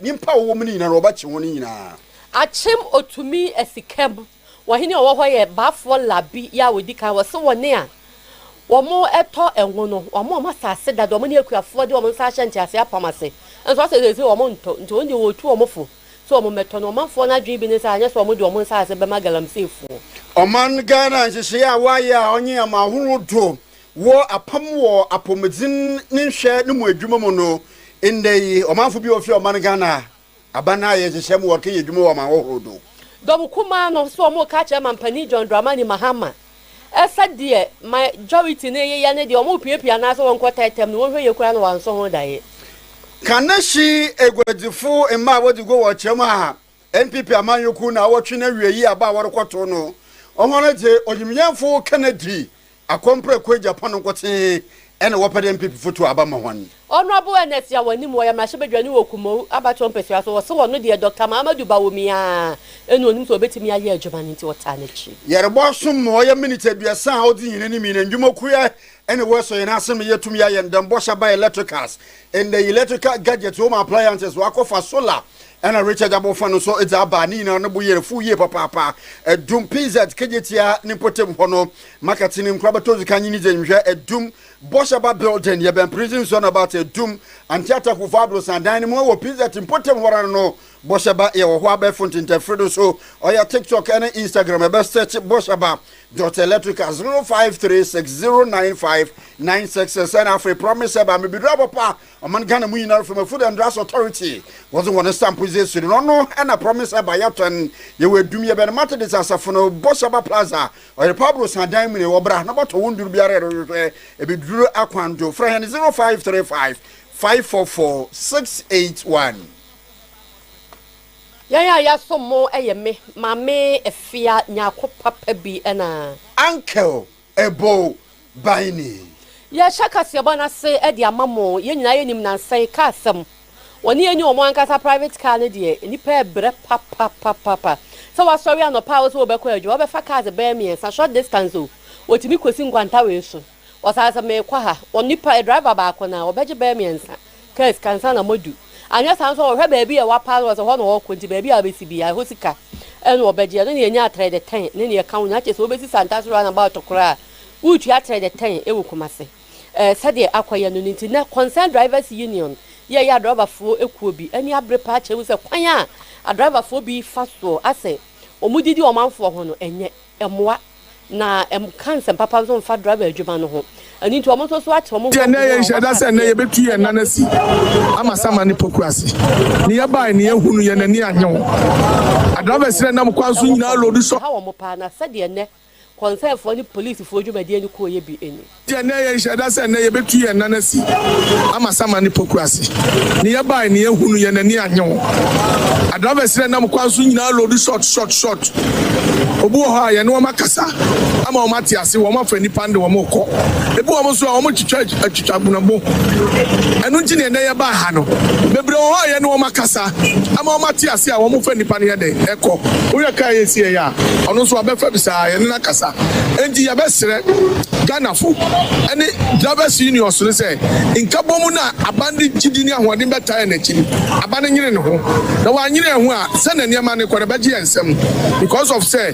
nyimpa a wɔwɔ mu no nyina na wɔbɛkye hɔn nyina. Akyem Otumi Asikam, wɔhene a ɔwɔ hɔ yɛ Baafoɔ Labi yɛ a wɔdi kan, wɔse wɔne a wɔtɔ ngo no, wɔn a wɔn asase da de, wɔn ne akuafoɔ de wɔn nsa ahyɛ nteaseɛ apam ase, nso wɔse seesei wɔn ntɔ, nti wɔn deɛ wɔtu wɔn fo sɛ wɔn mmɛtɔ no, ɔmanfoɔ no adwene bi ne sɛ anyɛ sɛ wɔn de wɔn nsaase bɛma galamseyfoɔ. Ɔman Ghana nhyehyɛeɛ a wɔayɛ a ɔnye ama ahorow do Wɔ apam wɔ apɔmuden ne nhwɛ no mu adwuma mu no, ndɛ yi ɔmanfo bi a ofi ɔman Ghana aban no ayɛ nhyehyɛɛ mu wɔrekɛyɛ edwuma wɔ aman horow do. Dɔm kumaa no so wɔreka akyerɛ Mampanyin John Dramani Mahama sɛ deɛ majority no reyeyɛ ne deɛ wɔrepiapia anaasɛ wɔnkɔ tɛɛtɛm no wɔnhwɛ yie koraa na wɔansɔ ho daeɛ. Kanehye aguadzifo mma a wɔdze gua wɔ kyerɛm a NPP amanyɔkuw na awɔtwe no awiei aba a wɔrokɔtow no, hɔn dze onyimnyɛnfo Kennedy Akɔ mprɛ kɔ Japan nkotsee na wɔpɛ dɛ MPP fo tu aba ma hɔn. Honourable Ernest yɛ aw'anim wɔyɛ mmarahyɛbadwani wɔ Kumow abatoɔ mpasua so wɔse wɔno deɛ Doctor Mahamadou Bawumia ara na onim sɛ obetumi ayɛ adwuma no nti wɔtaa n'akyi. Yɛrebɔ asom ma ɔyɛ minutes aduasa a odzi hɛn enyim yi na ndwumakuw a nna wɔasɔ hɛn ase ma yeetum yɛayɛ ndɛmbɔhyɛ aba electricals and electrical gadgets hom appliances ɔakɔfa solar Nna Richard abɔfã no so dze aba, ne nyinara no bo yer fuw yie papaapa. Dum PZ kegyetsia ne mpɔtamu hɔ no, market no nkura bɛtɔ dzi kan nye ne dze nhwɛ dum bɔhyɛba building, yɛbɛn prison zone about dum Antiata Kuffoaddo san dan no mu wɔ PZ mpɔtamu hɔ ara no bɔhyɛba yɛwɔ hɔ abɛɛfo ntentɛnfir do so ɔyɛ TikTok ne Instagram yɛbɛ search bɔhyɛba dot electrical zero five three six zero nine five nine six six ɛna afei promise ɛba mebeduru abɔpa Ɔman Ghana mu nyinara fam Food and Drugs Authority wɔdze hɔn nsa mpo dze esuri no ɔno na Promise Aba yɛtɔn yɛwɔ Adum yɛbɛn Martedis asafo no Bɔhyɛ Aba Plaza ɔyɛ Pabro san dan mu ni wɔbra na bɔtɔ wo ndur biara erohwehwɛ ebedur akwan do frɛ hɛn 0535 544 681. Yɛn a yɛasom mo yɛ me, Maame Afia Nyarko Papa bi na. Uncle Ɛbɔɔ ban ni. Yɛahyɛ kaseɛbɔ no ase de ama mo. Yɛn nyinaa yɛnim nansa yi kaa asɛm. Wɔne yɛn nni wɔn ankasa private car no deɛ, nnipa rebrɛ papapapapa. Sɛ woasɔre anɔpa a wose wobɛkɔ adwuma, wobɛfa cars bɛyɛ mmiɛnsa, short distance o, wɔtumi kɔsi nkwanta wei so. Wɔsan sɛ merekɔ ha, wɔn nnipa, driver baako no a, wɔbɛgye bɛyɛ mmiɛnsa. Kɛse ka ansa na moadu. Anyɛ saa nso a wɔhwɛ baabi a wɔapa no, wɔsɛ hɔ na wɔkɔ, nti baabi a wɔbɛsi biara, ɛhɔ sika na wɔbɛgye. Ɛno na yɛnya atrɛde tɛn ne nea ɛka ho nyinaa. Kyerɛ sɛ wobɛsi Santaso Roundabout koraa a, woretua atrɛde tɛn wɔ Kumasi. Ɛɛ, sɛdeɛ akɔyɛ no no nti, nnɛ Concerned Drivers Union yi a ɛyɛ adrɔbafoɔ kuo bi ani abere paa kyerɛ mu sɛ kwan a adrɔbafoɔ bi fa soɔ asɛ wɔn didi ɔmanfoɔ ho no, ɛnyɛ. mmoa, na ɛnka nsɛm papa nso mfa driver adwuma no ho. Ɛno nti, wɔn nso so ate wɔn nkɔmhyɛ a wɔaka akyerɛ wɔn. Ɛnna ɛyɛ nhyɛda sɛ ɛnnɛ yɛbɛtu yɛn nan asi Amasama ne Poku ase. Ne yɛbae ne yɛahu no, yɛn ani annye ho. Adrivers na ɛnam kwan so nyinaa loodu sɔhwɛ. Ɛha wɔn paa, na sɛdeɛ ɛnnɛ kɔnsɛnfoɔ ne polisifoɔ dwumadie no kɔeɛ bi ni. Yɛ nnɛ yɛ nhyɛ da sɛ nnɛ yɛ bɛtu yɛn nan asi ama saman ne poku ase ne yɛ bae ne yɛ hunu yɛn ani annye ho a drivers ne nam kwan so nyinaa load short short short obi wɔ hɔ a yɛne wɔn akasa ama wɔn ate ase wɔn afa nipa ne de wɔn rekɔ ebi wɔn nso a wɔn twitwa atwitwa gbonagbo ɛno nti ne nnɛ yɛ baa ha no bebree wɔ hɔ a yɛne wɔn akasa ama wɔn ate ase a wɔn fa nipa ne yɛ dɛ ɛkɔ woyɛ kaa yɛ si yɛ a ɔno nso abɛfa bi saa yɛne kasa. Enti yɛbɛsrɛ Ghanafo ne Drivers Unions no sɛ nkabɔmu no a aban de gyidi ne ahoɔden bɛtaa yɛn akyi no, aban no nyene ne ho. Na wanyene yɛn ho a, sɛnea nneɛma no rekɔ no, ɛbɛgye yɛn nsam because of sɛ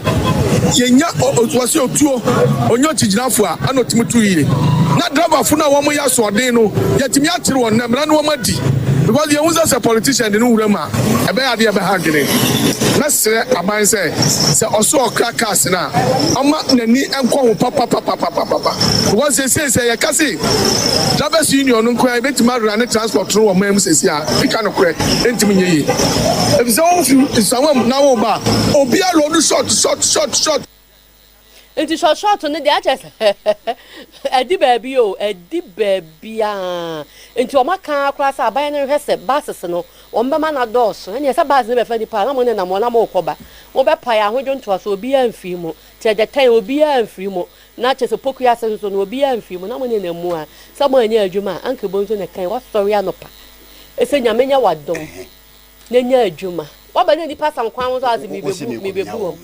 yɛnya o, o, wɔse otuo, onya okyigyinafo a, ɛna otumi tu yie. Na driverfo no a wɔyɛ asoɔden no, yɛatumi akyere wɔn na mmara no wɔadi because yɛhu sɛ sɛ politician de no wuram a, ɛbɛyɛ adeɛ a ɛbɛhangene. Srɛ aban sɛ, sɛ ɔso ɔkra cars no a, ɔmma n'ani nkɔ ho papapapapapapa because seesei sɛ yɛka se Drivers Union no nko ara ebetumi arunne transport no wɔ man mu seesei a, meka nokorɛ, ɛrentumi nyɛ yie. Efisɛ wofi Nsawam na woreba a, obiara load short, short, short, short. Nti short short no deɛ akyɛ sɛ ɛdi baabi o ɛdi baabiaa nti wɔn aka koraa sɛ aban no hwɛ sɛ buses no wɔn bɛma no adɔɔso ɛneɛ sɛ bus no bɛfa nipa a na mo nenam hɔ na mo rekɔba mo bɛpae ahodwo ntoaso obiaa mfiri mu te ɛdɛ tɛn obiaa mfiri mu na kyɛ sɛ poku ase nso no obiaa mfiri mu na mo nenam mu a sɛ mo anyɛ adwuma a anka ɛbɔ nso na ɛkan wɔsɔre anɔpa ɛsɛ nyame nyɛ wadom. na nya adwuma. W'abɛnya nnipa fa nkwa ho nso ase mibebu mibebu wɔn.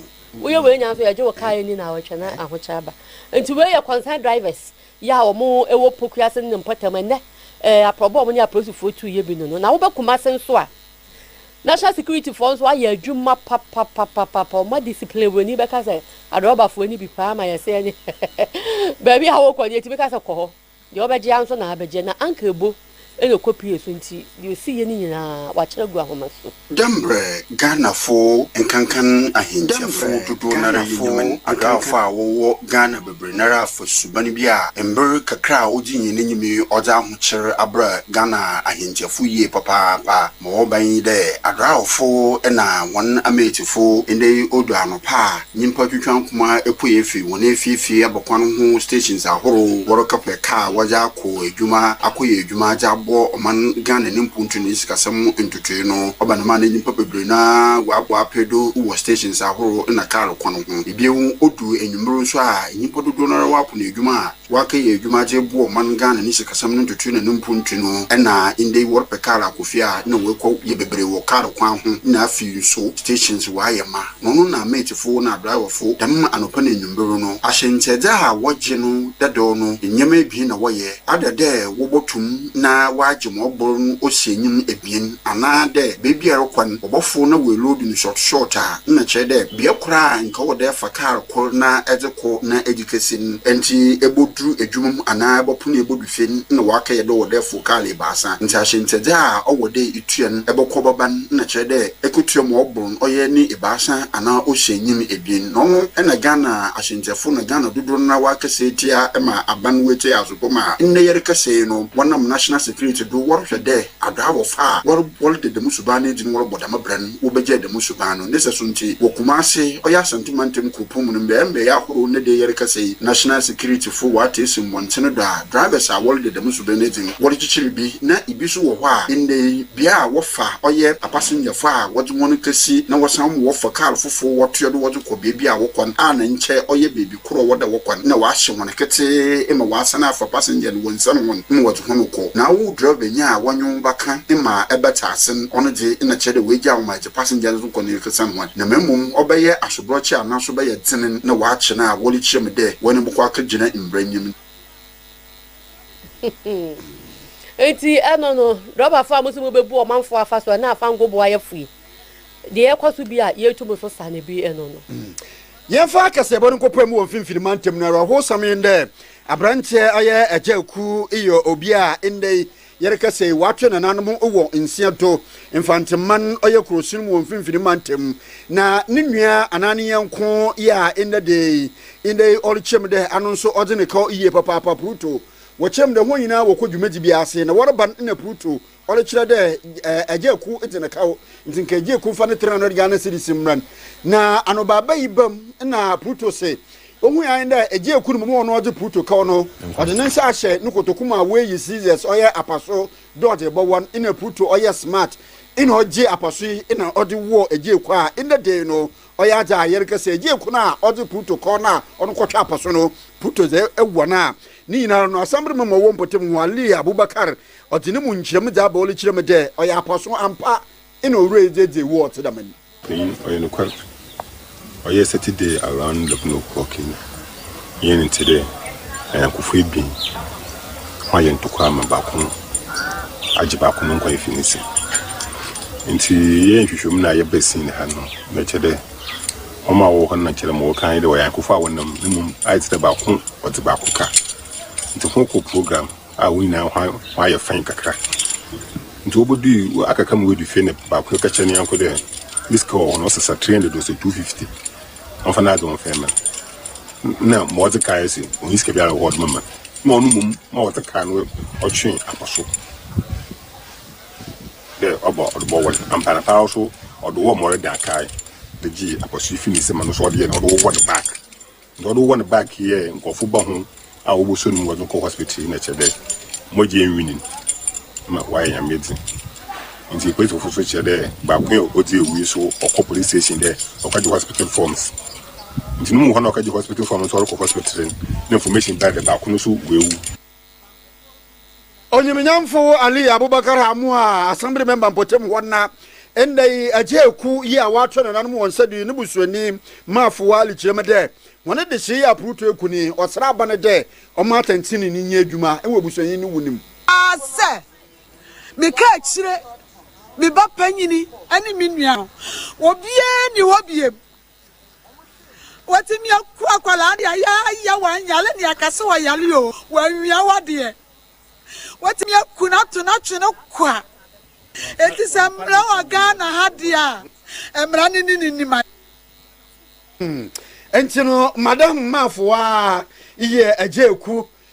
Woyɛ wei nyinaa nso yɛgye wo car ani na awɔtwe na ahokyɛ aba. Nti wei yɛ concern drivers yɛ a wɔn ɛwɔ Poku ase ne ne mpɔtam ɛnɛ ɛɛ aprɔbɔ wɔn ne apolisifoɔ tu yɛ bi no no na wobɛ Kumasi nso a national security foɔ nso ayɛ adwuma papapapapa wɔn adisipline wurani bɛka sɛ adrɔbafoɔ ni bi paa ma yɛsɛ ɛne baabi a wokɔ no yɛtumi ka sɛ kɔ hɔ. Deɛ ɔbɛgye ara nso na abɛgye, na anka ɛbo na ɛkɔpue so nti, deɛ ɔsi yie no nyinaa, wɔakyere agu ahoma so. Dɛ mbrɛ Ghanafo nkankan ahɛntsiafo dodow noara yɛ nyaman adɔafo a wɔwɔ Ghana beberee noara afa suban bi a mber kakra a odzi nye n'enyim yi ɔdze ahokyer abra Ghana ahɛntsiafo yie papaapa ma wɔba nye dɛ adɔaɔfo na hɔn ametsifo ndɛ yi odu anɔpa a Nyimpa twitwa nkoma pue efi hɔn efiefie abakwan ho stations ahorow, wɔrekɛpɛ kaa a wɔdze akɔ edwuma akɔyɛ edwuma dze abɔ ɔman Ghana ne mpontu ne ne sikasɛm ntotoe no. Ɔba no maa na nyimpa beberee no ara wɔabɔ apee do wɔ stations ahorow na kaar kwan ho. Bio, odu ewimbir so a nyimpa dodow no ara wɔapon edwuma a Wɔakɛyɛ edwuma dze eboa ɔman Ghana ne sikasɛm no ntotoe na no mpontu no, nna ndɛ yi wɔrepɛ kaar akɔ fie a nna wɔkɔ yɛ beberee wɔ kaar kwan ho na afei so stations wɔayɛ ma na ɔno na matefo na adraewɛfo dɛm anɔpa na enwimber no ahyɛ ntsɛdze a wɔgye no dadaw no ndzɛmba ebien na wɔyɛ ada dɛ wɔbɔtum na wɔagye ma ɔbor no osi enyim ebien anaa dɛ beebiara kwan wɔbɔfow na woeloadu no short short a nna kyerɛ dɛ bea kor a nka ɔwɔ dɛ efa kaar kor na edze kɔ na kɛse mu. Ntsi ebodur edwuma mu anaa ebɔpon na ebodu fie no, nna wɔakɛyɛ dɛ ɔwɔ dɛ efow kaar ebiasa. Ntsi ahyɛntsɛdze a ɔwɔ dɛ itua no, ebɔkɔ bɛba no, nna kyerɛ dɛ ekotua ma ɔbor no ɔyɛ ne ebiasa anaa ohyia nyin ebien. Na ɔno na Ghana ahyɛntsɛfo na Ghana dodow no ara wɔakɛsɛ etsia ma aban wetsie adze do ma nna yɛrekɛsɛ yi no, wɔnam National Security do wɔrohwɛ dɛ, Aber a wɔfa a wɔr wɔreda dɛm suban no edzi no wɔrobɔ dɛm bra no wobegyaa dɛm suban no. Ne sɛso ntsi, wɔ Kumase, ɔyɛ Asante Mantam Kuropɔn mu no, mbeae mbeae ahorow na dɛ yɛrekasa yi, National Security fo wɔatse esi mbɔntsen do a drivers a wɔreda dɛm suban no edzi no wɔrekyekyer bi na bi so wɔ hɔ a ndɛ yi bea a wɔfa ɔyɛ apasengyafo a wɔdze hɔn kesi na wɔsan ma wɔfa kaar fofor wɔtoa do wɔdze kɔ beebi a wɔkɔ no a na nkyɛ ɔyɛ beebi kor a wɔda hɔ kwan na ɔahyɛ hɔn ketsee ma ɔasan afa passenger no wɔ nsan hɔn ma wɔdze hɔn rokɔ. Na wo drɛvanyi a wɔnye wo bɛkã ma ebɛtse ase no, ɔno dze, nna kyerɛ dɛ oegyaa wo ma edze passenger no dze kɔ no resan hɔn. Na mbom ɔbɛyɛ asoborɔkye anaa so ɔbɛyɛ dzen na ɔakye no a, wɔrekyia mu dɛ wɔnye bɔkɔ akɛgyina mbra enyim no. Ntsi eno no, drɔbafo a mose mubebu ɔmamfo afasu anaa afangoboayɛfo yi, deɛ ɛkɔ so bi a yetum so sane bi eno no. Yɛmfa akasɛbɔ no nkɔpae mu wɔ Mfinfini Mantam no. Awerɛhowsɛm nye dɛ, aberantsɛ ayɛ Agya Aku yɛ obi a ndɛ yi yɛrekasa yi ɔatwe nananom wɔ nsia do. Mfantseman ɔyɛ kurowson mu wɔ Mfinfini Mantam, na no nua anaa ne nyɛnko yɛ a ndɛ da yi ndɛ yi ɔrekyerɛm dɛ ano nso ɔdze no kaw yie papaapa. Pruto, Wɔkyerɛm dɛ hɔn nyina wɔkɔ dwumadzi bi ase na wɔreba no nna Pruto Ɔdze kyerɛ dɛ Egyeeku dze no kaw, ntsi nka Egyeeku mfa ne tsenano gya ne sede si mbra no. Na anobaaba yi baa mu na Pluto se ohun ae dɛ Egyeeku no mbom ɔno ɔdze Pluto kaw no, ɔdze ne nsa ahyɛ no kotoku mu a woeyi scissors ɔyɛ apaso dɛ ɔdze bɔwɔ no, nna Pluto ɔyɛ smart na ɔgye apaso yi na ɔdze wɔɔ Egyeeku a ndɛ da yi no ɔyɛ adze a yɛrekɛ sɛ Egyeeku no a ɔdze Pluto kaw no a ɔno kɔtwe apaso no, Pluto dze wɔ no a. Ne nyinara no, asamber mema ɔwɔ mpɔtamu hɔ a, Lee Abubakar Ɔdze no mu nkyerɛmu dze abɔ ɔlo kyerɛ mu dɛ ɔyɛ apɔso ampa na Owura yi dze edzi ewu ɔtse dɛm no. Iyi ɔyɛ nokwar. Ɔyɛ Saturday around leven o'clock yi yɛnye no tse dɛ anyɛnkofo ebien, wɔayɛ ntokwa ma baako agye baako no nkwa efi ne nsamu. Ntsi yɛyɛɛ nhwehwɛmu na yɛbaa scene ha no, na ɔkyerɛ dɛ hɔn a wɔwɔ hɔ no na nkyɛ dɛ ma wɔkã nye dɛ ɔyɛ anyɛnkofo a wɔnam na mbom ayɛ tse dɛ baako ɔdze baako kã. Ntsi hɔn kɔɔ program. a wɔn nyinaa ho ho ayɛ fann kakra. Nti wobodui wɔ akaka mu wedu fie na baako no ka kyerɛ ne yɔnko dɛ ne sika wɔ hɔ no ɔsesa three hundred ɔsɛ two fifty ɔmfa n'adze ɔmfa mma no na ma ɔdze kae se ɔnyi sika biara wɔ hɔ ɔdze bɛma no na ɔno mmom ma ɔdze kae no ɔtwe akɔ so dɛ ɔbɔ ɔdze bɔwɔ no ampa na paa so ɔdze wɔ ma ɔreda kae de gyee akɔso yi fi ne nsam a no so ɔdze yɛ no ɔdze wowɔ no back Nka ɔde wɔn bag yɛ nkurɔfo ba ho a wɔbɔ so no mu wɔde kɔ hospital yi na kyerɛ dɛ mogya enwinin ma wɔayɛ nyame edzi. Ntsi polisifo so kyerɛ dɛ baako yi a odzi ewu yi so ɔkɔ police station dɛ ɔkɛgye hospital forms. Ntsi no mu hɔ na ɔkɛgye hospital form no so ɔrokɔ hospital no na information bae dɛ baako no so oewu. Onyimnyamfo Ali Abubakar Amuha a asɛmbere mɛmba mpɔtamu hɔ na ndɛ yi Agye Eku yi a ɔatoa nananom hɔn nsa do yi no busuanyi maa Fowa Ali kyerɛ mu dɛ, Hɔn adesee yɛ aporotoo eku no yi, ɔsera aba no dɛ ɔmma atsɛntsenenee no nyɛ edwuma wɔ ebusuanyi no wu no mu. ara sɛ meka akyire me ba panyin ne me nua no, obiara nni hɔ bio Watumi aku akwadaa de ayɛ ayɛ, wanyare ne aka sɛ ɔyare o, wanwia wadeɛ. Watumi aku no ato no atwe no kwa. Enti sɛ mmara wɔ Ghana ha deɛ a, mmara no ne ne nim ayɛ. Hmm. Nti no, Madam Mafoa yɛ agya eku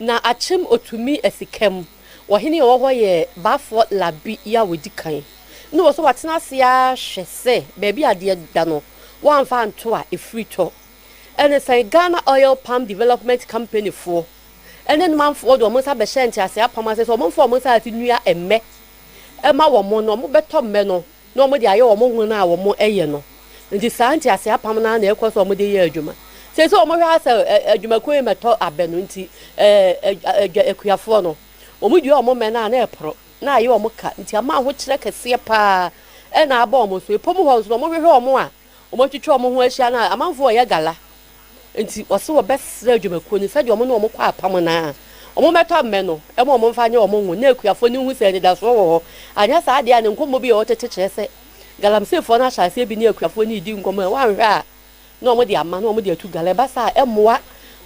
Na akyem otumi asi kam. Ɔhene a ɔwɔ hɔ yɛ Bafo Labi yi a wadi kan. Na ɔwɔ sɛ watena ase ara hwɛ sɛ baabi a adeɛ da no, wɔamfa anto a ɛfiri tɔ. Ɛne sɛn Ghana Oil Palm Development Company foɔ ne ne manfoɔ de wɔn nsa bɛhyɛ nteaseɛ apam ase sɛ wɔmfa wɔn nsaase nnua mmɛ mma wɔn na wɔbɛtɔ mmɛ no. na wɔde ayɛ wɔn hon a wɔyɛ no. Nti saa ntease apam no ara na ɛkɔ so a wɔde yɛ adwuma. Seesei wɔhwɛ ara sɛ adwumakuo yi mmɛtɔ abɛ no nti, adwa akuafoɔ no, wɔdua wɔn mmɛ no a na ɛporo, na ayɛ wɔn ka. Nti ama ahokyerɛ kɛseɛ pa ara na aba wɔn so. Ɛpɔ mu hɔ nso no, wɔhwehwɛ wɔn a Wɔatwitwa wɔn ho ahyia no a, amanfoɔ reyɛ gala. Enti wɔse wɔbɛsrɛ adwumakuo no sɛdeɛ wɔne wɔn kɔ apam no ara, wɔmmɛtɔ mmɛ no ma wɔmfa nyɛ wɔn ngo na akuafoɔ no nhu sɛ anidasoɔ wɔ hɔ. Anyɛ saa deɛ a, ne nkɔmmɔ bi a ɛwɔ tete kyerɛ sɛ galamseyfoɔ no ahyɛ aseɛ bi ne akuafoɔ no redi nkɔmmɔ a ɛwɔ anhwɛ a na wɔde ama na wɔde atu gala. Ɛba saa a, ɛmmoa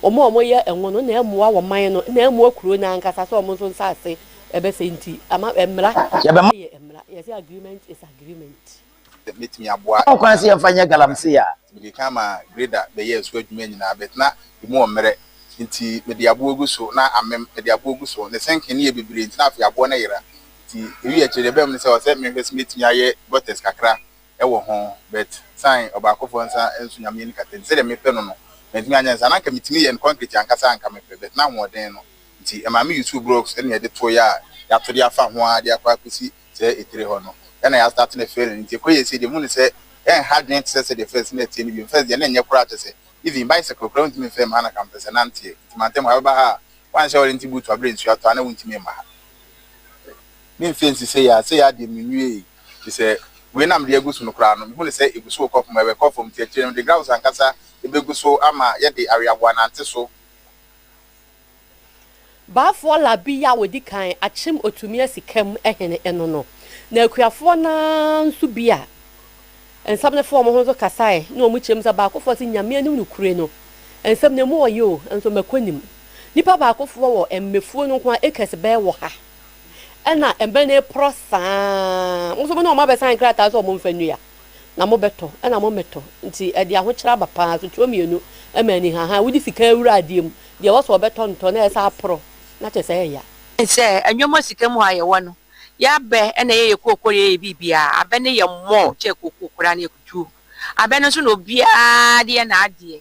wɔn a wɔyɛ ngo no na ɛmmoa wɔn man no na ɛmmoa kuro no ankasa sɛ wɔn nso nsase bɛsɛe nti, ama mmara yɛ mmara, yɛse agreement is agreement. bɛtumi aboa. Ɛwɔ kwan sɛ yɛmfa nyɛ galamsey a. Mede kan ma grader bɛyɛɛ so adwuma nyinaa but na emu wɔ mmerɛ nti mede aboɔ gu so na amem mede aboɔ gu so ne sinking no yɛ bebree nti na afei aboɔ no yera nti ɛwii akyire deɛ ɛbaam ne sɛ ɔsɛ menhwɛ sɛ mɛtumi ayɛ gutters kakra wɔ ho but sane ɔbaakofoɔ nsa nso Nyame ani kata nti sɛdeɛ mepɛ no no mantumi anyɛ ne saa na anka metumi yɛ no concrete ankasa a anka mepɛ but na ahoɔden no nti ɛmaa me usuu blocks na yɛde toeɛ a yɛato de afa ho ara de akɔ akɔsi sɛ etire hɔ no yɛ na yɛastate no failing nti ɛkɔ yie sei deɛ muni sɛ ɛnha adwene tesɛ sɛdeɛ first no ɛteɛ no bio first deɛ na ɛnyɛ koraa kyɛsɛ even bicycle koraa wontumi mfɛɛ mu ha na ka mpɛsɛ nanteɛ nti mantam ha bɛba ha a woanhyɛ warranty boot aberɛ nsuo atɔ a na wontumi mma ha memfie nsi sei a sei ara deɛ menwiee tesɛ wei na mede agu so no koraa no mehu no sɛ ɛguso rekɔ fam ɛbɛkɔ fam nti akyire no mede graus ankasa bɛgu so ama yɛde aweaboa nante so. Baafoɔ Labi yi a ɔdi kan akyem ɔtumi asi Kam hene ɛno no, na akuafoɔ no ara nso bi a nsɛm no fa wɔn ho nso kasaeɛ ne wɔn kyerɛm sɛ baakofoɔ se Nyame anim nokure no nsɛm no emu ɔye o nso mako nim nipa baakofoɔ wɔ mmɛfuo no nko ara acres bɛɛ wɔ ha ɛna mmɛ no reporɔ saa ara mo nso mo ne wɔn abɛsan nkrataa sɛ wɔn mfa nnua. na mobɛtɔ na mommɛtɔ nti ɛde ahokyerɛ aba paa sotoɔ mmienu ma ani hahan wode sika awura adeɛ mu deɛ ɛwɔ sɛ ɔbɛtɔ ntɔ na ɛsɛ aporɔ na kyɛ sɛ ɛya. Ɛne sɛ nnoɔma sika mu hɔ a yɛwɔ no yɛ abɛ na ɛyɛ yɛ kooko na ɛyɛ yɛ biribiara abɛ no yɛ more kyɛ kooko koraa no yɛ kutuo abɛ no nso na obiara de yɛ n'adeɛ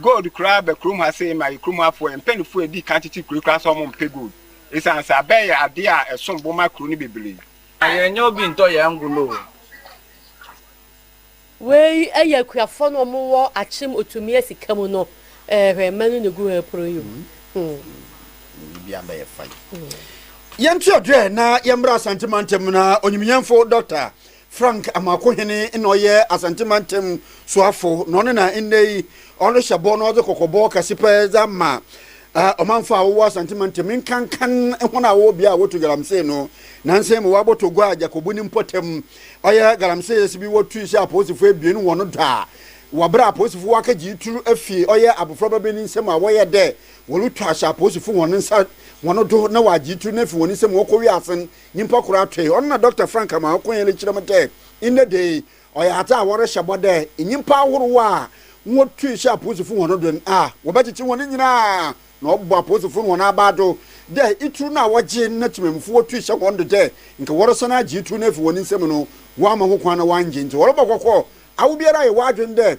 Gold koraa bɛ kurom ha sei ma yɛ kurom ha foɔ, yɛ mpanyinfoɔ a edi kan tete kuro yi koraa sɛ ɔmo mpɛ gold esiane sɛ abɛ yɛ adeɛ a ɛsom bo ma kuro no bebree. Na yɛn nyɛ obi ntɔ yɛn ngo no o. Wei yɛ akuafoɔ no ɔmo wɔ akyem otumia sika mu no eh hwɛ mma no ne gu hɛ poro yi o hmm. Biribi abɛyɛ fine. Yɛnte ɔdwerɛ na yɛmmra Asante mantam na onyimyɛnfo Dɔkta Frank Amarko Hene na ɔyɛ Asante mantam soafo na ɔno na nnɛ yi ɔno hyɛ bɔ na ɔdze kɔkɔbɔ kɛse pɛ dze ama ɔmanfo a wɔwɔ Asante mantam nkankan hɔn a wɔwɔ bea a wotu galamsey no. Nansa yi mu wɔabɔtɔ gua Agyakobu ne mpɔtam ɔyɛ galamseyɛs bi wɔ Twi hyɛ apolisifo ebien hɔn do a wɔ ber a apolisifo wɔakɛgye yi tur efi ɔyɛ abofraba bi ne nsamu a wɔyɛɛ dɛ wɔrutwa ahyɛ apolisifo hɔn nsa hɔn do na wɔagye yi tur no efi hɔn nsamu ɔkɔ wiasen Nyimpa kor atwe, ɔno na Dɔkta Frank Amoah-Okonyele kyerɛ mu dɛ, ndɛ da yi, ɔyɛ adze a wɔrehyɛ bɔ dɛ nyimpa ahorow a wotui hyɛ apolisifo hɔn do no, wɔbɛkyekye hɔn nyina, na ɔbɔ apolisifo no hɔn abaa do dɛ itur no a wɔgye na tsemammufo wotui hyɛ hɔn do dɛ nka wɔresan agye itur no efi hɔn nsamu no, wɔamma ho kwan na wɔanngye ntsi wɔrobɔ kɔkɔ awobiara a yɛwɔ adwen dɛ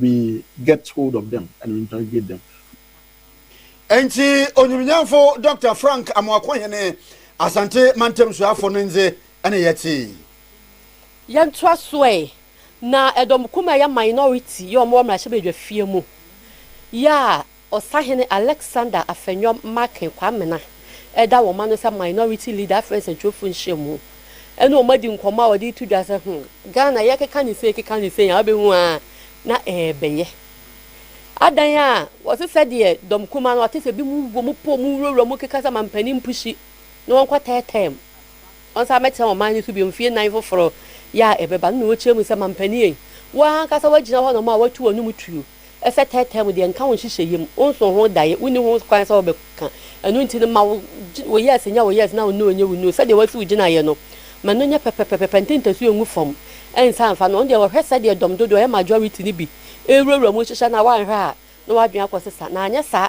We get hold of them and we interrogate them. Ntsi onyimnyamfo Dɔkta Frank Amoako-Hene, Asante mantam suafo no ndze na yɛtsee. Yɛntoa so ɛ, na ɛdɔm kumaa yɛ minority yɛ ɔmo wɔ mmarahyɛbadwafie mu yɛ a Ɔsahene Alexander Afenwam Markin Kwamena da wɔn ano sɛ Minority Leader Afri Nsɛntwerɛfoɔ Nhyiamu ɛne wɔn adi nkɔmmɔ a ɔde reto dwa sɛ hmm, Ghana yɛkeka no sei keka no sei a wobɛhu ara na ɛrebɛyɛ. Adan a wɔse sɛdeɛ dɔm kumaa no wɔte sɛ binom wɔ mu pɔ mu wurawura mu keka sɛ mampanin mpushi na wɔnkɔtɛɛtɛɛ mu. Wɔnsan mmɛtena wɔn man no so bio mfeɛ nnan foforɔ yi a ɛbɛba no na wɔkyerɛ mu sɛ, Mampanin ei, wo ara ankasa woagyina hɔ na wɔn a wɔatu w'anom tuo sɛ tɛɛtɛɛ mu deɛ nka wo nhyehyɛeɛ mu, wonsoo ho daeɛ, wonni ho kwan sɛ wobɛka, ɛno nti no ma wo wo Yes nyɛ wo Yes na wo No nyɛ wo No, sɛdeɛ woasi wo gyinaeɛ no ma no nyɛ pɛpɛpɛpɛpɛ, nte ntasuo ngu fam nsan mfa no, ɔndeɛ wɔhwɛ sɛdeɛ dɔm dodoɔ yɛ majority no bi rewurawura mu hyehyɛ no a woanhwɛ a na w'adwene akɔsesa na anyɛ saa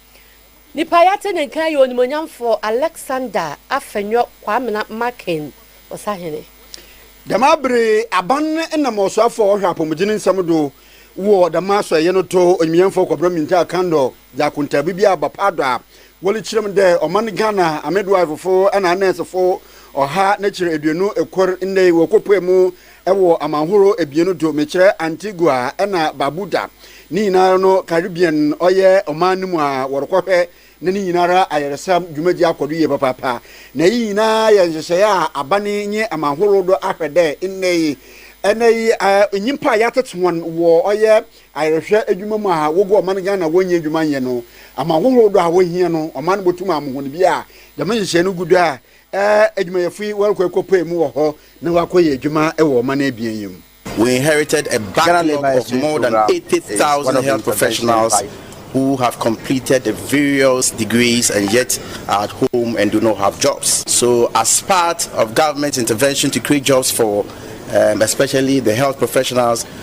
Nipa a yɛate ne nka yɛ onimuonyamfoɔ Alexander Afenyo Kwamena Markin Osahene. Dɛm aber yi, aban na ma ɔsoafo a ɔhwɛ apɔwmudzen nsɛm do wɔ dɛm asɔɛyɛ no do, Onyimyɛmfo Kɔbena Mintaa Kandor dze akontaabu bi aba paado a wɔrekyerɛ mu dɛ ɔman Ghana amidwifefo na anɛɛsefo ɔha na ekyir eduonu kor ndɛ yi wɔkɔpuee mu Wɔ amanhorow ebien no do, mekyerɛ Antigua na Barbuda. Ne nyinara no, Caribbean ɔyɛ ɔman no mu a wɔrokɔhwɛ na ne nyinara ayarsam dwumadzi akɔ do yie papaapa. Na iyi nyina yɛ nhyehyɛɛ a aban nye amanhorow do ahwɛ dɛ ndɛ yi, ndɛ yi nyimpa a yɛatsetse hɔn wɔ ɔyɛ ayarhwɛ edwuma mu a wogu ɔman Ghana wonnya edwuma nnyɛ no, amanhorow do a wohia no, ɔman no botum ama hɔn bi a dɛm nhyehyɛɛ no gu do a Ɛɛ, adwumayɛfo yi wɔrekɔ akɔpae mu wɔ hɔ na wɔakɔyɛ adwuma wɔ ɔman abien yi mu. We inherited a backlog of more than 80,000 health professionals who have completed the various degrees and yet are at home and do not have jobs. So as part of government intervention to create jobs for um, especially the health professionals,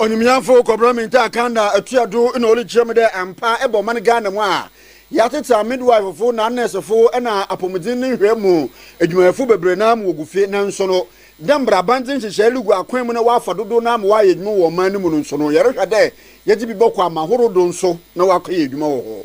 Onyimnyamfo Kɔbena Mintah Akanda atua do na ɔdze kyerɛ me dɛ ampa ebɔ man Ghana mu a, yɛatsetse a midwife fo na nurse fo na apɔwmudzen ne nhwɛe mu edwumayɛfo beberee no ara ma wogu fi nanso no dɛ mbrɛ abandze nhyehyɛɛ lugu akwan mu na wɔafa dodow no ara ma wɔayɛ edwuma wɔ ɔman no mu no nso no yɛrohwɛ dɛ yɛdze bi bɔkɔ amahorow do nso na wɔakɔyɛ edwuma wɔ hɔ.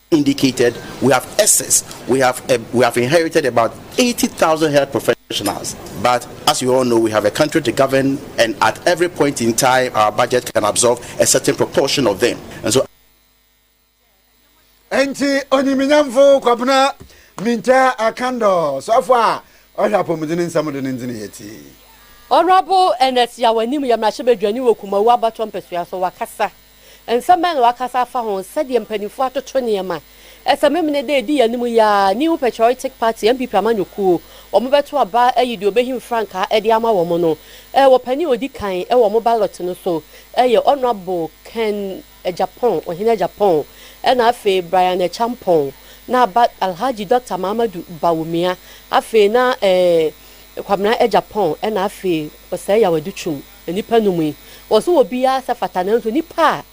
indicated we have excess we have a, we have inherited about 80,000 health professionals but as you all know we have a country to govern and at every point in time our budget can absorb a certain proportion of them and so nti onyiminyamfo kwabena minta akandɔ sɔfo a ɔhwɛ apɔmuden nsɛm do ne ndzene yɛ ti Honorable Ernest Yawanim yɛ mmarahyɛbadwani wɔ Kumawu abatoɔ mpɛsoa so wakasa. Nsɛm bɛn na wɔakasa afa ho? Sɛdeɛ mpanimfoɔ atoto nneɛma, ɛsɛ Memeneda a ɛdi yɛn anim yi ara, New Patriotic Party, NPP amanyɔkuo, wɔbɛto aba ayi deɛ ɔbɛhim frankaa de ama wɔn no wɔ panin a ɔdi kan wɔ wɔn ballot no so yɛ Honourable Ken Agyapong, Ɔhene Agyapong, ɛna afei Brian Acheampong, na aba Alhaji Doctor Mahamadou Bawumia, afei na Kwabena Agyapong, ɛna afei Osei Yaw Adutwum. Nnipa no mu yi, wɔwɔ sɛ wɔ biara sɛ fata nanso nnipa a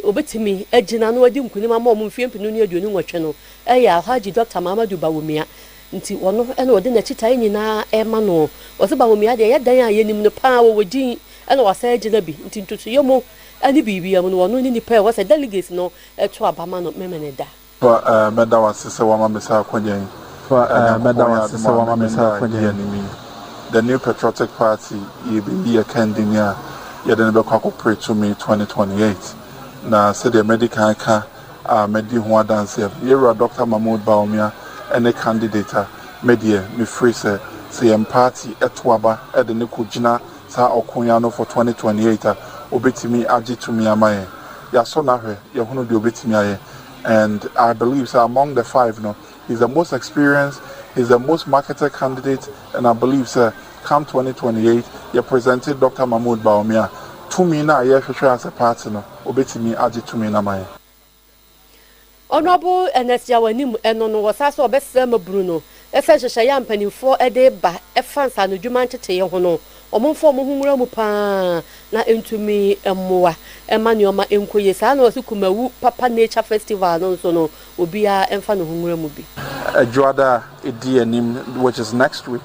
wɔbɛtumi agyina na wɔadi nkunim ama wɔn mfeɛ mpenu ne aduonu nwɔtwe no yɛ Alhaji Dɔkta Mahamadu Bawumia nti ɔno na wɔde n'akyitaeɛ nyinaa rema noɔ. Wɔse Bawumia deɛ ɛyɛ dan a yɛnim no paa wɔwɔ din na wasan agyina bi nti ntotoeɛ mu ne biribiara mu no ɔno ne nipa a ɛwɔ sɛ delegates no to aba ma no Memeneda. Fa eh mɛda w'ase sɛ wama me saa akwanya yi Fa eh mɛda w'ase sɛ wama me saa akwanya yi The New Patriotic Party yɛbɛyi yɛ kandini a yɛde no bɛkɔ akɔpre to May twenty twenty eight Na sɛdeɛ madi kan ka a mɛdi ho adanseɛ no yɛwura Doctor Mahmoud Bawumia ne candidate a me deɛ me firi sɛ sɛ yɛn party to aba de no kɔ gyina saa ɔko yi ano for twenty twenty eight a ɔbɛtumi agye tumi ama yɛn Yɛasɔ no ahwɛ yɛahunu deɛ ɔbɛtumi ayɛ And I believe sɛ among the five no, he's the most experienced, he's the most marketed candidate and I believe sɛ come twenty twenty eight yɛ presente Doctor Mahmood Bawumia a, tumi no a yɛrehwehwɛ as a party no, ɔbɛtumi agye tumi no ama yɛn. Honourable Ernest Yaw anim, ɛno no, wɔsan sɛ wɔbɛsra mabunu no, Fa nhyehyɛe a mpanyimfo de ba fa nsaanodwuma ntetee ho no, wɔmfa wɔn ho nwura mu paa na entumi mmoa mma nneɛma nkɔ yie. Saa ara na wɔse Kumawu Papa Nature Festival no nso no, obiara mfa ne ho nwura mu bi. Dwoada a edi anim, which is next week,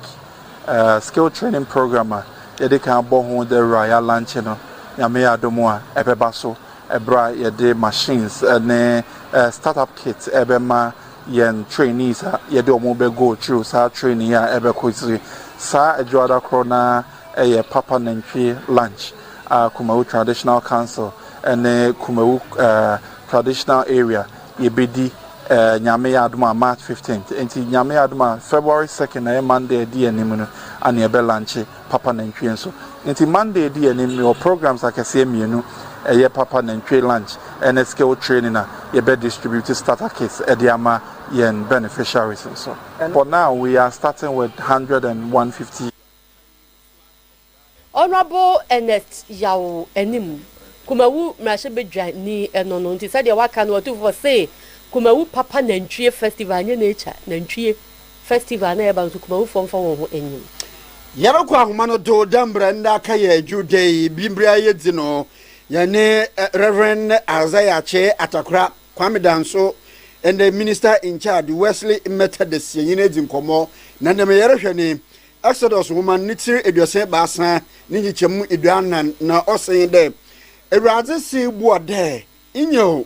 skill training program a yɛde kan abɔ ho dawuru a yɛalankye no, Nyame yɛ adom a, ɛbɛba so bere a yɛde machines ne start-up kits rebɛma yɛn trainees a yɛde wɔn bɛ go through saa training a ɛbɛkɔ akyire. Saa adwuada korɔ no ara yɛ Papa Nantwie Lunch a Kumawu Traditional Council ne Kumawu Traditional Area yɛbɛdi Nyame yɛ adom a March 15th. Nti Nyame yɛ adom a February 2nd a ɛyɛ Monday a ɛdi yɛn anim no na yɛbɛ lunche. Papa Nantwie nso. Nti Monday di anim mewɔ programmes akɛseɛ mmienu, ɛyɛ Papa Nantwie lunch ɛne skill training a yɛbɛ distribute starter kits de ama yɛn beneficiaries nso. For now we are starting with one hundred and one fifty. Honourable Ernest Yaw anim, Kumawu mmarahyɛbadwani no no. Nti sɛdeɛ waka no ɔtumfoɔ se Kumawu Papa Nantwie Festival nyɛ nature, nantwie. Festival na ɛba no so Kumawufoɔ mfa wɔn ho nnyim. Yɛbɛkɔ ahoma no do dɛ mbrɛ ndɛ aka yɛ Dwowda yi bi ber a yedzi no. Yɛnye Rev. Isaiah Akyee Atakora, Kwame Danso, ndɛ Minister in Charge Wesley Methodist yɛnye no edzi nkɔmbɔ na ndɛ ma yɛrohwɛ nye Exodus nwoma no ne tsir eduasa ebiasa ne nkyekyɛmu eduanan na ɔse dɛ, Ewuradze see Boa dɛ Nyew,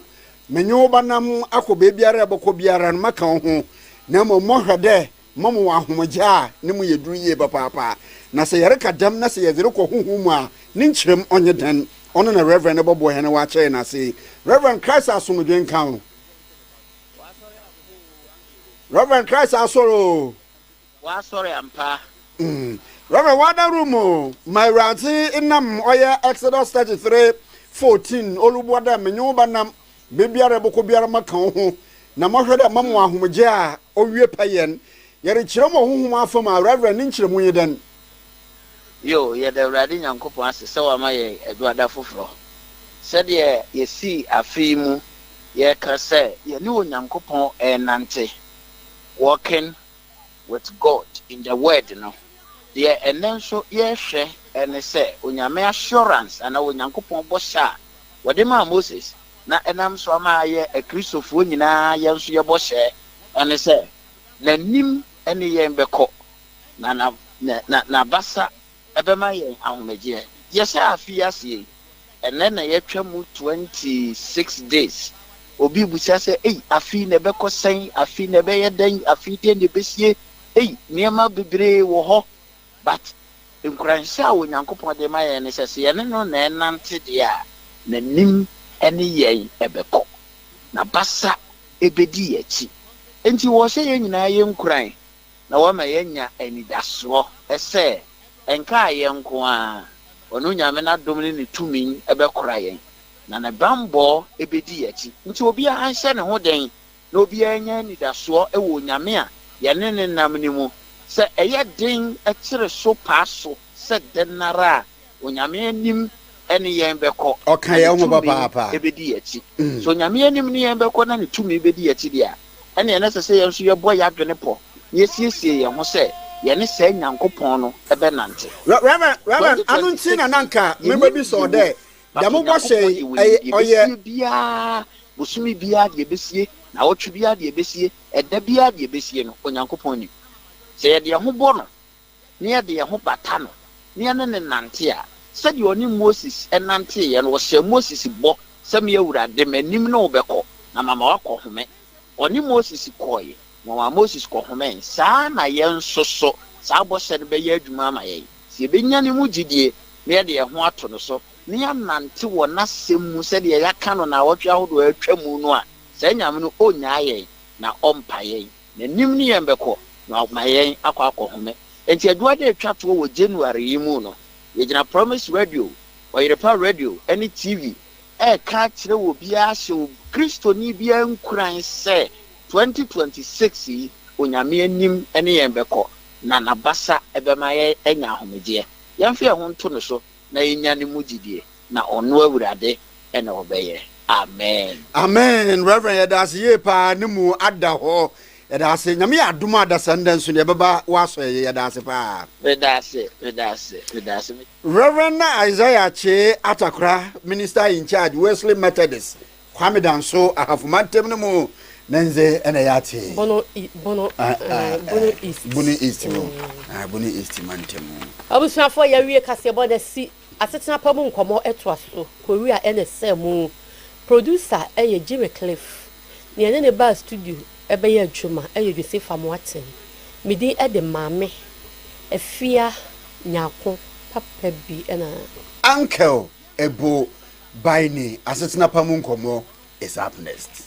menye wo bɛnam akɔ beebiara a ebɔkɔ biara no, mɛka wo ho, na mbom mɔhwɛ dɛ mɔma wo ahomgye a no mu yɛ dur yie papaapa. Na sɛ yɛreka dɛm na sɛ yɛdze rokɔ honhom mu a, ne nkyerɛmu ɔnye dɛn? Ɔno na Rev. no bɔboa hɛn wɔ akyɛr no ase. Rev. Christ asomdwee nka wo. Rev. Christ Asɔr oo! W'asɔre ampa. Rev. Wada Room o ma Ewuradze nam ɔyɛ Exodus thirty three fourteen Olubua dɛ menye wo bɛnam beebiara ebɔkɔ biara maka wo ho na mɔhwɛ dɛ mɛma wo ahomgye a owie pɛ yɛn yɛrekyerɛ mu wɔ honhom afamu a Rev. Ne nkyerɛmu nye dɛn? Yo, yɛda Ewuradze Nyankopɔn ase sɛ ɔama yɛn Eduada foforɔ. Sɛdeɛ yɛsii afe yi mu yɛreka sɛ yɛne Onyankopɔn renante, walking With God, in the Word no, deɛ ɛnnɛ nso yɛrehwɛ ne sɛ Onyame assurance anaa Onyankopɔn bɔhyɛ a Ɔde maa Moses na ɛnam so ama ayɛ Akristofoɔ nyinaa yɛn nso yɛ bɔhyɛ ne sɛ N'anim ne yɛn bɛkɔ na N'abasa Ɛbɛma yɛn ahomegyeɛ. Yɛhyɛ afe yi aseɛ yi, ɛnnɛ na yɛatwa mu 26 days. Obi rebisa sɛ, ei, afe yi na ɛbɛkɔ sɛn? Afe yi na ɛbɛyɛ dɛn? Afe yi deɛn na ɛbɛsie? Ei, nneɛma bebree wɔ hɔ. But nkuranhyɛ a Onyankopɔn de ma yɛn ne sɛ, sɛ yɛne no na ɛrenante deɛ a, N'anim ne yɛn bɛkɔ. N'abasa bɛdi yɛn akyi. Enti ɔhyɛ yɛn nyinaa yɛnkuran na wɔma yɛnya anidasoɔ sɛ ɛnkaa yɛn nko ara, ɔno Nyame no adom ne ne tumi bɛkora yɛn, na ne bammɔ bɛdi yɛn akyi. Nti obiara nhyɛ ne ho den na obiara nya anidasoɔ wɔ Onyame a yɛne no nam no mu, sɛ ɛyɛ den kyere so paa so sɛ dɛn ara a, Onyame anim ne yɛn bɛkɔ. Ɔka yɛn ho papaapa. Na ne tumi bɛdi yɛn akyi. Sɛ Onyame anim ne yɛn bɛkɔ na ne tumi bɛdi yɛn akyi deɛ a, ɛnneɛ na ɛsɛ sɛ yɛn nso yɛbɔ yɛn adwene pɔ na yɛsiesie yɛn ho sɛ yɛne saa Nyankopɔn no bɛnante. Rev. Ano nti na na nka mebɛbisa wo dɛ, dɛm bɔhyɛ yi, ɔyɛ. Yɛbɛsie biara, bosome biara deɛ ɛbɛsie, naawɔtwe biara deɛ ɛbɛsie, ɛda biara deɛ ɛbɛsie no, Onyankopɔn nim. Sɛ yɛde yɛn ho bɔ no na yɛde yɛn ho bata no, na yɛne no nante a, sɛdeɛ ɔne Moses nanteeɛ no, ɔhyɛɛ Moses bɔ sɛ, Me Awurade, m'anim ne wo bɛkɔ, na mama woakɔhome. Ɔne Moses kɔeɛ, na ɔmaa Moses kɔhomee. Saa ara na yɛn nso so, saa bɔhyɛ no bɛyɛ adwuma ama yɛn, sɛ yɛbɛnya ne mu gyedie, na yɛde yɛn ho ato no so, na yɛanante wɔ n'asɛm mu sɛdeɛ yɛaka no nnawɔtwe ahodoɔ a atwam no a, saa Nyame no ɔnnyaa yɛn, na ɔmpa yɛn. N'anim ne yɛn bɛkɔ, na wama yɛn akɔ akɔhome. Enti adwuma da ɛtwa toɔ wɔ January yi mu no, yɛgyina Promise Radio, Ɔyerepa Radio, ne TV reka akyerɛ obiara ahyɛ Kristoni biara nkuran sɛ 2026 yi, Onyame anim ne yɛn bɛkɔ, na N'abasa bɛma yɛanya ahomegyeɛ. Yɛmfa yɛn ho nto Ne so na yɛnya Ne mu gyidie. na ɔno awurade na ɔbɛyɛ amen. Amen Rev yɛda ase yie paa ne mu ada hɔ yɛda ase nyame yɛ adom a adasa ndɛ nso deɛ ɛbɛba woasɔ yɛyɛ yɛda ase paa. Meda ase meda ase meda ase. Rev na Isaiah Kyee Atakora minister in charge Wesley Methodist Kwame Danso Ahafo mantam no mu ne ndze ɛna ɛyɛ ate yi Bono i Bono ah, ah, ah, eh, Bono East Bono East mu ah, Bono East mantam mu. Abusuafoɔ yɛwie kaseɛbɔ no asi Asetena pa mu nkɔmmɔ toa so kowia ɛna ɛsɛɛ mu. Producer yɛ Jimmy Cliff. Nea ɛne no baa studio bɛyɛ adwuma yɛ Joseph Amoaten. Me din de Maame Afia Nyarko papa bi na. Ankel Ebo Baini Asetena pa mu nkɔmmɔ is up next.